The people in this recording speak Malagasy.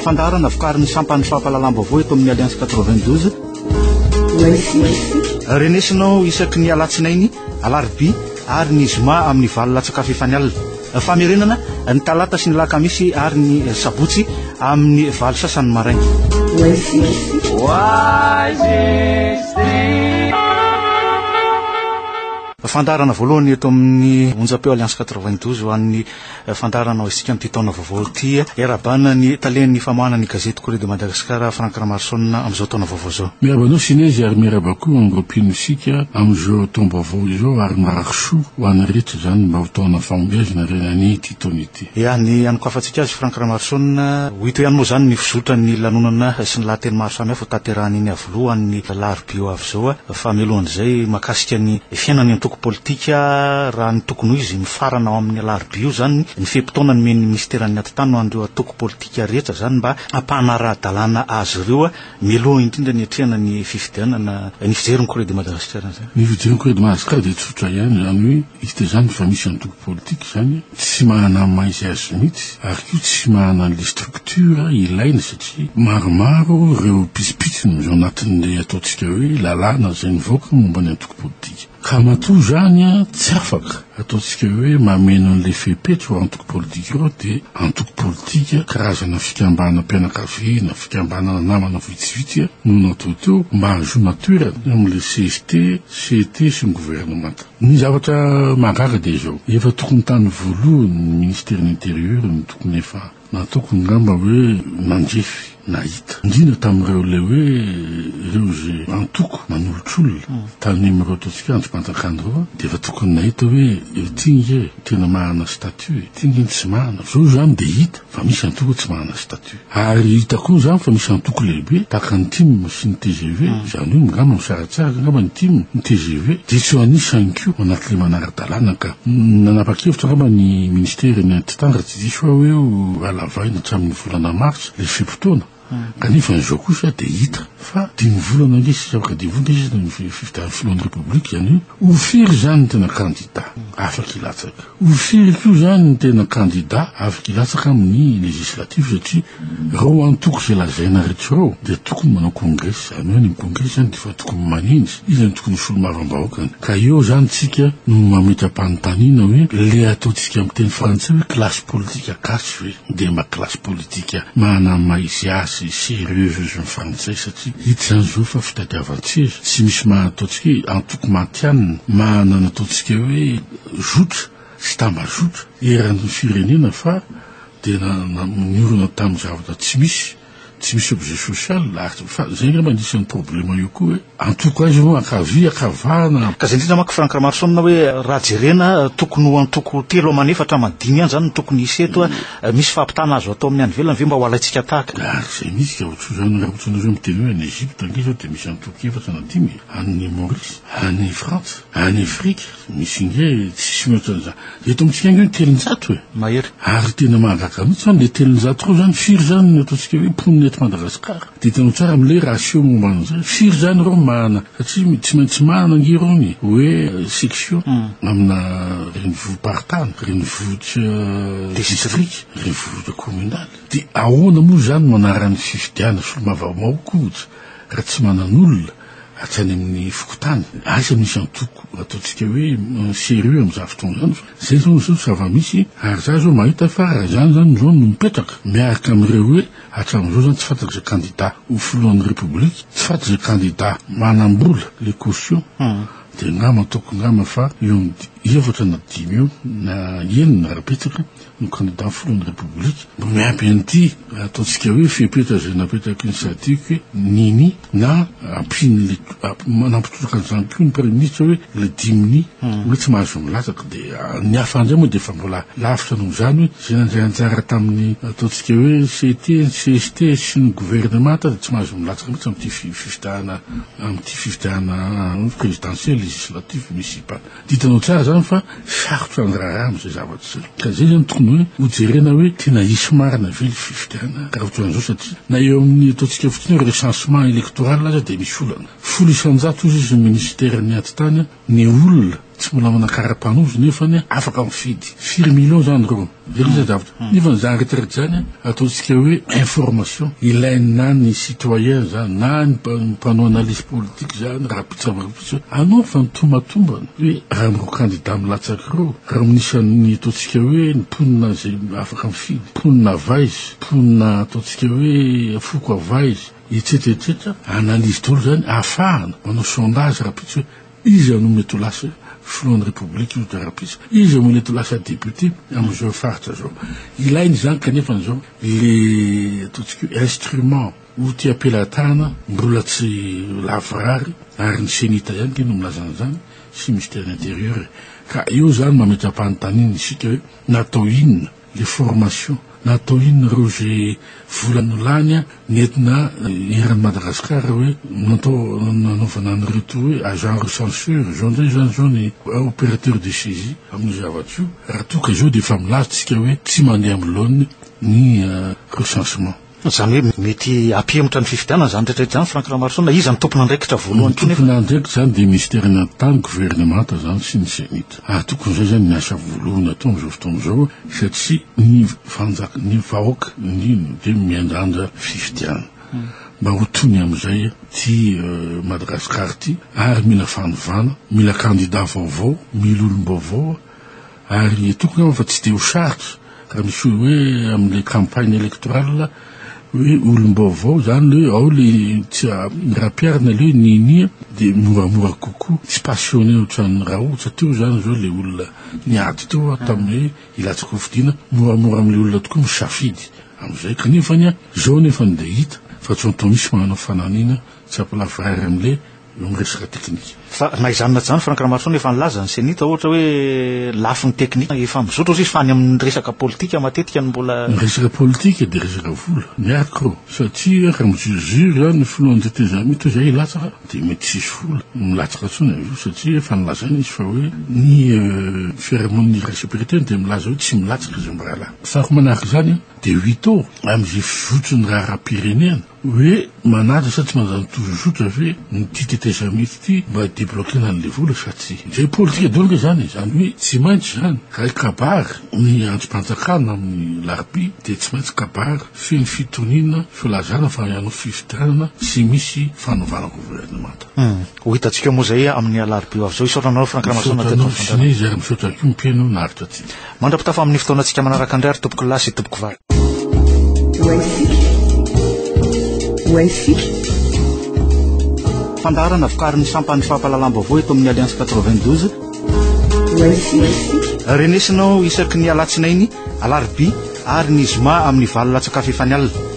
fandaharana vokarin'ny sampan'ny fampahalalam-baovao eto amin'ny alliance 92 renesinao isaky ny alatsinainy alarbi ary ny zoma amin'ny valo latsakafo efa ny alina famerenana ny talata sy ny lakamisy ary ny sabotsy amin'ny valo sasany maraina Fandaharana voalohany eto amin'ny onjam-peo Alliance 92 ho an'ny fandaharana ho isika amin'ity taona vaovao ity. Iarahabana ny talen'ny famoahana ny gazety Courrier de Madagascar Franck Ramaroson amin'izao taona vaovao izao. Miarahaba anao Sinezy ary miarahaba koa amin'ny roapino isika amin'izao taom-baovao izao ary mirary soa ho an'ny rehetra izany mba ho taona fahombiazana ry ananie ity taona ity. Ia, ny anokafantsika azy Franck Ramaroson, ho hita ihany moa izany ny fizotran'ny lanonana sy ny lahateny maro samihafa ho tanterahany iny Lohan' ny alarobia avy izao fa mialohan' izay mahakasika ny fiainan'ny antoko politika raha ny tokony ho izy mifarana ao amin'ny alarobia io izany ny fe-potoana nomen'ny minisiteran'ny atitany ho an'ireo antoko politika rehetra izany mba hampanara-dalàna azy ireo mialoha indrindra ny hatrehana ny fifidianana ny fijery ny Corée de Madagascar izany. Ny fijery ny Corée de Madagascar dia tsotra ihany izany hoe Hita izany fa misy antoko politika izany tsy manana ny maha izy azy mihitsy ary koa tsy manana an'ilay structure ilaina satria maromaro ireo pitsopitsony ao anatin'ilay ataontsika hoe lalàna izay nivoaka momba ny antoko politika ka matoa izany tsy afaka ataontsika hoe mameno an'ilay fepetra ireo antoko politika ireo dia antoko politika karazana fikambanam-pianakaviana, fikambanana namana vitsivitsy no natao teo mba hahazoana toerana eo amin'ilay CST, CT sy ny governemanta. Ny zavatra mahagaga dia izao, efa tokony tany voalohany ny Ministerin'ny Intérieur no tokony efa nataoko ngamba hoe nandrefy nahita, indrindra tamin'ireo ilay hoe ireo izay antoko manolotr'olona tany amin'ireo ataontsika andrimpanjakana ireo an, dia efa tokony nahita hoe ity nge tena manana statut e, ity nge ny tsy manana, izao izany dia hita. fa misy antoko tsy manana statut. Ary hita koa izany fa misy antoko lehibe tahaka ny tim sy ny tgv, izany hoe angamba misaratsaraka angamba ny tim, ny tgv dia tsy ho an'isa ihany koa ao anatin'ilay manara-dalàna ka. Nanapa-kevitra angamba ny minisitera eny Antitanga tsy diso aho hoe ho halavaina hatramin'ny volana martsa ilay fe-potoana. Kanefa izao kosa dia hita fa dimy volana ange sisa ho kadihivonta izy ny fifidian'ny filohan'ny Repoblika, izany hoe ho firy izany ny tena kandida afaka hilatsaka? Ho firy koa izany ny tena kandida afaka hilatsaka amin'ny legislatif satria ireo antoko izay lazaina rehetra ireo dia tokony manao kongresy, izany hoe any amin'ny kongresy izany dia efa tokony manenjy, iza no tokony ho solomavam-bahoakany? Ka eo izany isika no mametra-panontaniana hoe ilay ataontsika amin'ny teny frantsay hoe classe politique gasy ve dia mba classe politique. Midika manana ny maha izy azy serieuse izy ny frantsay satria hita izany izao fa fitadiavan-tseza, tsy misy maha ataontsika hoe antoko matihanina, maha nanataontsika hoe zotra sy tambazotra eran'ny firenena fa dia na na niorina tamin'ny zavatra tsy misy, tsy misy objet social ary fa izay angamba anisan'ny problema eo koa hoe. Antoko aiza moa, ankavia, ankavana? Ka izay indrindra manko Franck Ramarison na hoe raha jerena tokony ho antoko telo aman efatra aman dimy ihany izany no tokony hisy eto a, misy fahampitana azo atao amin'ny any ivelany ve mba ho alaintsika tahaka? Ary izay misy ka ohatr'io izany raha ohatra ianareo miteny hoe any Egypte ange izao dia misy antoko efatra na dimy e, any Maurice, any Frantsa, any Afrika misy nge tsisy mihoatra an'izany. Eto amintsika ange ny telonjato e! Mahery. Ary tena mahagaga mihitsy izany le telonjato ireo izany firy izany no ataontsika hoe mponina eto Madagasikara? Didino tsara mle ratio momba an'izay. Firy izany ireo mahana, satria tsy maintsy mahana ange ireo ny hoe section amina renivohi-paritany, renivohitra distrika, renivohitra kominaly. Dia ahoana moa izany no anaran'ny fifidianana solombavambahoaka ohatra raha tsy manan'olona atsy any amin'ny fokontany. Aiza misy antoko ataontsika hoe serieux amin'izany fotoana izany fa izay izao no zava-misy ary izaho izao mahita fa raha izany izany izao no mipetraka miaraka amin'ireo hoe Hatramin'izao izany tsy fantatra izay candidat ho filohan'ny République, tsy fantatra izay candidat manam-bola le caution, dia angamba ataoko angamba fa eo amin'ny efatra na dimy eo na enina raha betsaka no candidat ho filohan'ny République, mba miampy an'ity ataontsika hoe fepetra izay napetraky ny Sadiq hoe nini, Na ampian'ilay nampitolaka an'izany koa ny praiminisitra hoe ilay dimini hoe tsy mahazo milatsaka. Dia ny hafa indray moa dia efa mbola lavitra noho izany hoe izay nandray anjara tamin'ny ataontsika hoe CT, CST sy ny governemanta dia tsy mahazo milatsaka mihitsy amin'ity fifidianana amin'ity fifidianana prezidansiely, legislatif, municipal. Ditinao tsara izany fa sarotra ny raharaha amin'izay zavatra izay. Ka izay izany tokony hoe hojerena hoe tena hisy marina ve ilay fifidianana raha ohatran'izao satria na eo amin'ny ataontsika fotsiny hoe recensement électoral aza dia misy olana. Folo isan-jato hozy izy ny minisiteran'ny atitany ny olona tsy mbola manana karapanondro nefany afaka mifidy. Firy millions izany ireo? Jereo izay zavatra. Nefa ny zany retraite zany ataontsika hoe information ilainy na ny citoyen zany na ny mpanao analyse politique zany raha mpitsabarampitso anao fa ny tomatombana hoe raha mireo candidat milatsaka ireo raha minisany ataontsika hoe ny mponina izay afaka mifidy mponina avaizy mponina ataontsika hoe foko avaizy etsetra etsetra analyse daholo zany ahafahana manao sondage raha pitsy hoe Iza no mety ho lasa filohan'ny Repoblika io Darapiza? Iza mo nety ho lasa député amin'izao faritra zao? Ilaina izany kanefany zao le ataontsika hoe instrument outil am-pelatanana mbola tsy lavorary ary ny Cenita ihany nge no milaza an'izany sy Ministère de l'Intérieur e! Ka eo zany mametra-panontaniana isika hoe natao inona? le formation na atao inona reo ze vola no lany a nentina eran'i Madagascar hoe natao nanaovana an'ireto hoe agent recenseur zao ndray zany zao ny operateur de saisie amin'io zavatra io raha toa ka zao dia efa milaza tsika hoe tsy mandeha amin'ny laoniny ny recensement. Izany hoe mety hampihemotra ny fifidianana izany rehetra izany Franck Ramaroson a! Iza no tompon'andraikitra voalohany koa nefa? Ny tompon'andraikitra izany dia Minisitera ny Tany, Governemanta izany sy ny Cenit. Ary tokony izay izany ny asa voalohany atao amin'izao fotoana izao satria ny fanjaka, ny vahoaka indrindra dia miandrandra fifidianana mba ho tony amin'izay ity Madagascar ity ary mila fanovana, mila kandida vaovao, mila olom-baovao. Ary toko angamba fa tsy dia ho sarotra raha misy olona hoe amin'ilay campagne électorale hoe olom-baovao izany hoe ao ilay tsy rapiary na ilay hoe ninia dia moramora kokoa tsy passionné ohatran'ny raotsa teo izany izao ilay olona niady teo ah, tamin'ny hoe hilatsaka ho fidiana moramora amin'ilay olona tokoa misafidy amin'izay kanefany ah, izao anefany dia hita fa tsy anton'isy manana fananina tsy ampilafy rary amin'ilay noho ny resaka teknika. Fa na izany na izany, Franck Ramaroson efa nilaza ny Cenit ohatra hoe lafiny teknika efa mizotra hozy izy fa any amin'ny resaka politika matetika no mbola. Ny resaka politika dia resaka vola, miarko, satria raha mi-jure jure zany ny filohan'ny tetezamita hoe zay hilatsaka dia mety tsy hisy vola milatsaka intsony avy eo satria efa nilazaina izy fa hoe ny fiarahamonin'ny iraisam pirenena dia milaza hoe tsy milatsaka izay mirahalahy. Faharoa manaraka izany dia huit ans amin'izay fizotry ny raharaham-pirenena. Hoe manaja sa tsy manaja ny tozozotra ve ny ity tetezamita ity mba hi-debloquer-na an'ilay vola sa tsia? Dia politika daholo ange izany e! Izany hoe tsy maintsy izany raha hikabary ny andrim-panjakana amin'ny alarobia dia tsy maintsy kabary feno fitoniana, filazana fa hanao fifidianana sy misy fanovana governemanta. Ho hitantsika moa izay amin'ny alarobia ho avy izao. Hisaotra anareo Franck Ramason teto amin'ny fandaharana. Misaotra anao Sinézy ary misaotra ihany koa Mpeno naharitra antsika. Mandra-pitafa amin'ny fotoanantsika manaraka indray ary tompoko lahy sy tompoko vavy. Fandaharana vokarin'ny sampan'ny fampahalalam-baovao eto amin'ny Alliance 92. Renesinao isaky ny alatsinainy, alarobia ary ny zoma amin'ny valo latsakafy efa ny alina.